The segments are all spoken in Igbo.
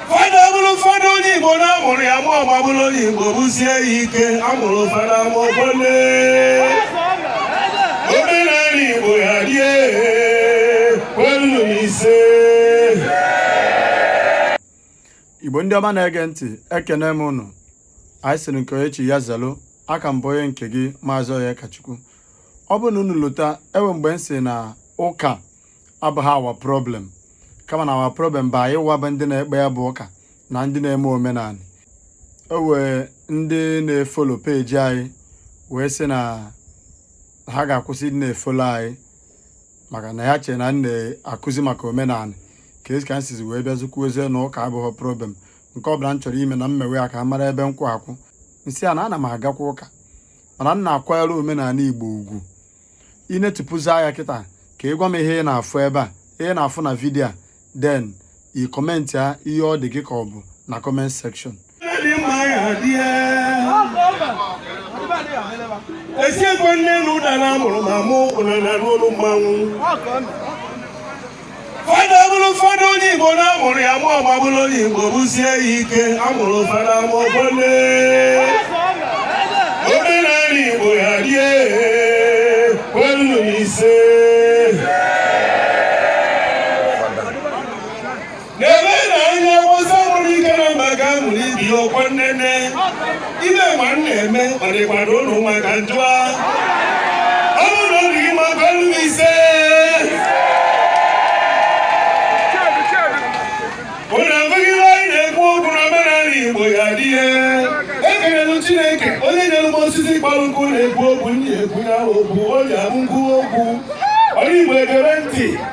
fada bụrụ fada onye igbo na amụrụ ya ma ọgba bụrụ onye igbo bụsie ya ike a bụrụ fada ma ọgbọle omenala igbo ya dị kwenu ise igbo ndị ọma na-ege ntị ekene m unu anyị sịrị nke onye chi ya zelu aka m bụ onye nke gị maazị Onyekachukwu ọ bụrụ na unu lota e nwe mgbe m sịrị na ụka abụha our problem kama na our problem bụ anyịwa bụ ndị na-ekpe ya bụ ụka na ndị na-eme omenala o nwee ndị na-efolo page anyị wee sị na ha ga-akwụsị ịdị na-efolo anyị maka na ya chere na m na-akụzi maka omenala ka esi ka m sizi wee bịazi kwuozie na ụka abụghị problem nke ọ bụla m chọrọ ime na m mewe ya ka a mara ebe m kwụ akwụ m sị ya na ana m agakwa ụka mana m na-akwanyere omenala igbo ugwu ị netịpụzie anya kịta ka ị gwa m ihe ị na-afụ ebe a ihe ị na-afụ na video a then ị kọmentịa ihe ọ dị gị ka ọ bụ na comment section esi ekwe nne na ụda na amụrụ ma mụ ụkwụ na n'olu mmanwụ fada bụrụ fada onye igbo na amụrụ ya ma ọgba bụrụ onye igbo bụsie ya ike a bụrụ fada ma ọgbọle omenala igbo ya dị kwenu m ise n'ebe na onye awụsa mụrụ ike na mba ga amụrụ ibi ya ọkwa nnene ime ma m na-eme ọ dịkwado ụlọ ụmụaka njụa ọ bụrụ na ọ dị gị mma kwenu m ise ụlọ abụghị ihe anyị na-ekwu okwu na omenala igbo ya dị ihe ekelelu chineke onye nyere m osisi kpọrọ nkụ na-ekwu okwu ndị ekwu ya okwu o ji abụ nkwu okwu onye igbo egere ntị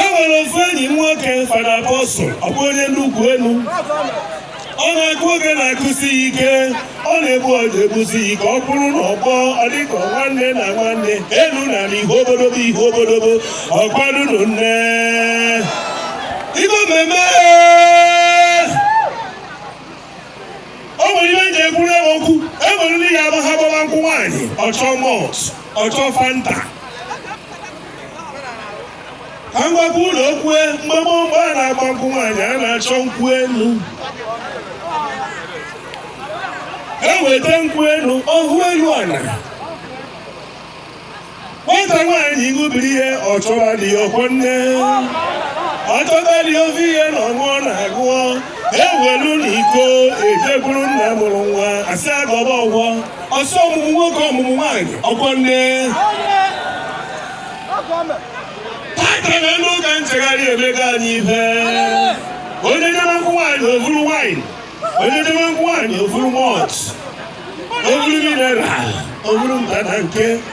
e nwere ofu enyi m nwoke fada apostle ọ bụ onye nnukwu enu ọ na-akụ ogene akụsi ya ike ọ na-egbu ọja egbusi ya ike ọ kwụrụ n'ọgbọ ọ dịka nwanne na nwanne elu na ala ihe obodobo ihe obodobo ọkwadunu nne igbo mmemme o nwere ihe m ji ekwuru iwe okwu e nwere ndị ya ama ha gbawa nkwụ nwaanyị ọ chọọ malt ọ chọọ fanta ka m gwakwa unu okwu mgbe mgbe a na-agba nkwụ nwaanyị a na-achọ nkwụ enu e weta nkwụ enu ọhụ elu ana nwata nwaanyị ṅụbiri ihe ọ chọba di ya ọkwọ nne ọ chọba di ofe ihe na ọṅụ ọ na-agụọ ewelu na iko ejekwuru nna mụrụ nwa a sị ya gọba ọgọ ọsọ ọmụmụ nwoke ọmụmụ nwaanyị ọkwọ nne tata na ndị ụka nchegharị emego anyị ife onye debe nkwụ nwaanyị o vuru wine onye debe nkwụ nwaanyị o vuru malt o vuru mineral o vuru mba na nke